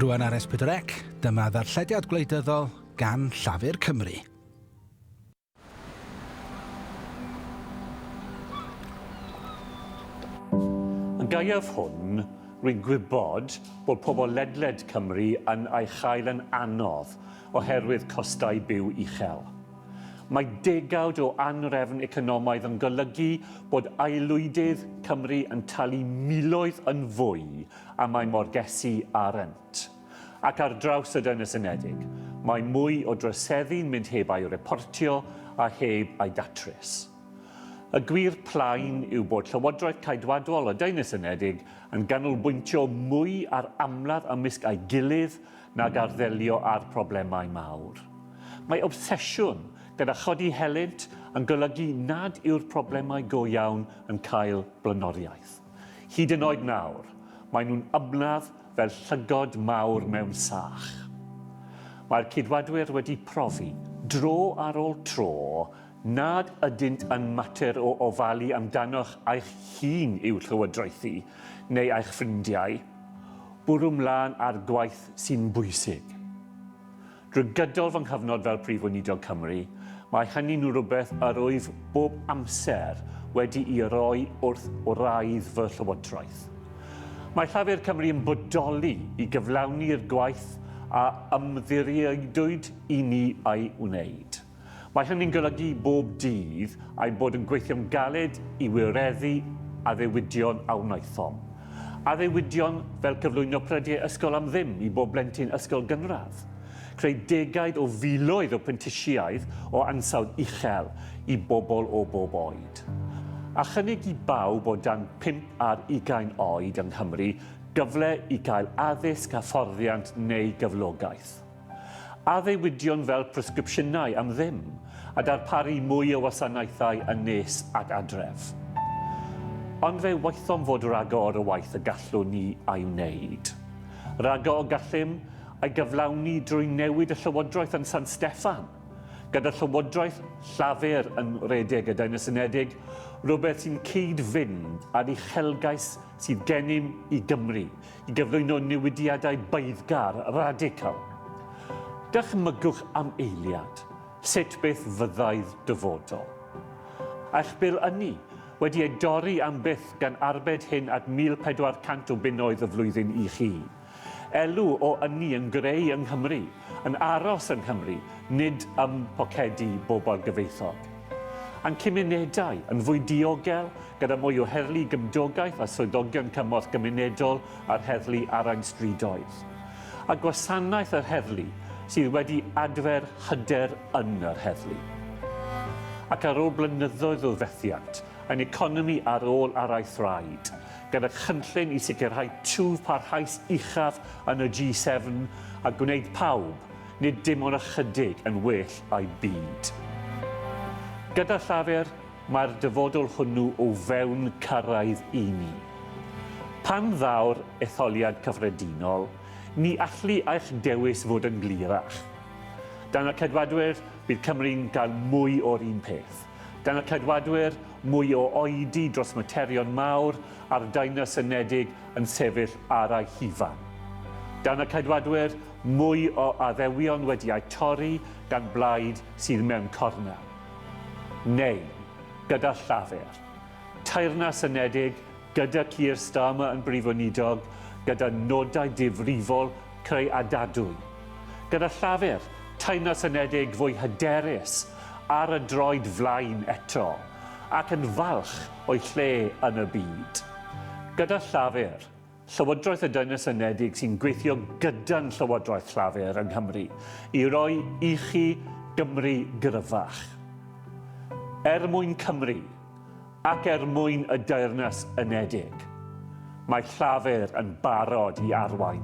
Rwan ar S4C, dyma ddarllediad gwleidyddol gan Llafur Cymru. Yn gaeaf hwn, rwy'n gwybod bod pobl ledled Cymru yn ei chael yn anodd, oherwydd costau byw uchel. Mae degawd o anrefn economaidd yn golygu bod aelwydydd Cymru yn talu miloedd yn fwy am eu morgesi a rent. Ac ar draws y Deyrnas Unedig, mae mwy o droseddu'n mynd heb a'i reportio a heb a'i datrys. Y gwir plaen yw bod Llywodraeth Caedwadol y Deyrnas Unedig yn ganolbwyntio mwy ar amlaf ymysg ei gilydd nag ar ddelio â'r problemau mawr. Mae obsesiwn gyda chodi helynt yn golygu nad yw'r problemau go iawn yn cael blaenoriaeth. Hyd yn oed nawr, maen nhw'n ymladd fel llygod mawr mewn sach. Mae'r Ceidwadwyr wedi profi, dro ar ôl tro, nad ydynt yn mater o ofalu amdanoch eich hun i'w llywodraethu, neu eich ffrindiau, Bwrw mlaen â'r gwaith sy'n bwysig. Drwy gydol fy nghyfnod fel Prif Weinidog Cymru, mae hynny'n rhywbeth yr wyf bob amser wedi'i roi wrth wraidd fy llywodraeth. Mae Llafur Cymru yn bodoli i gyflawni'r gwaith a ymddiriedwyd i ni ei wneud. Mae hynny'n golygu bob dydd ein bod yn gweithio'n galed i wireddu addewidion a wnaethom. Addewidion fel cyflwyno prediau ysgol am ddim i bob blentyn ysgol gynradd, creu degaid o filoedd o prentisiaeth o ansawdd uchel i bobl o bob oed, a chynnig i bawb o dan pump ar ugain oed yng Nghymru gyfle i gael addysg, hyfforddiant neu gyflogaeth. Addewidion fel presgripsiynau am ddim, a darparu mwy o wasanaethau yn nes ac adref. Ond fe waethom fod ragor o waith y gallwn ni a'i wneud. Ragor y gallem ei gyflawni drwy newid y llywodraeth yn San Steffan, gyda llywodraeth Llafur yn rhedeg y Deyrnas Unedig, rhywbeth sy'n cyd-fynd â'r uchelgais sydd gennym i Gymru i gyflwyno newidiadau beiddgar radical. Dychmygwch am eiliad sut beth fyddai'r dyfodol. A'ch bil ynni wedi ei dorri am byth gan arbed hyn at 1,400 o bunnoedd y flwyddyn i chi. Elw o ynni yn greu yng Nghymru, yn aros yng Nghymru, nid ym mhocedi bobl gyfoethog. A'n cymunedau yn fwy diogel, gyda mwy o heddlu gymdogaeth a swyddogion cymorth gymunedol a'r heddlu arain strydoedd. A gwasanaeth yr heddlu sydd wedi adfer hyder yn yr heddlu. Ac ar ôl blynyddoedd o fethiant, ein economi ar ôl araith raid gyda chynllun i sicrhau twf parhaus uchaf yn y G7 a gwneud pawb, nid dim ond ychydig, yn well a'u byd. Gyda Llafur, mae'r dyfodol hwnnw o fewn cyrraedd i ni. Pan ddaw'r etholiad cyffredinol, ni allu eich dewis fod yn glirach. Dan y Ceidwadwyr, bydd Cymru'n cael mwy o'r un peth. Gan y Ceidwadwyr, mwy o oedi dros materion mawr a'r Deyrnas Unedig yn sefyll ar ei hufan. Dan y Ceidwadwyr, mwy o addewion wedi eu torri gan blaid sydd mewn cornel. Neu, gyda Llafur. Teyrnas Unedig, gyda Keir Starmer yn Brif Weinidog, gyda nodau difrifol Creu a Dadwy. Gyda Llafur, Teyrnas Unedig fwy hyderus ar y droed flaen eto, ac yn falch o'i lle yn y byd. Gyda Llafur, Llywodraeth y Deyrnas Unedig sy'n gweithio gyda'n Llywodraeth Llafur yng Nghymru i roi ichi Gymru gryfach. Er mwyn Cymru, Ac er mwyn y Deyrnas Unedig, mae Llafur yn barod i arwain.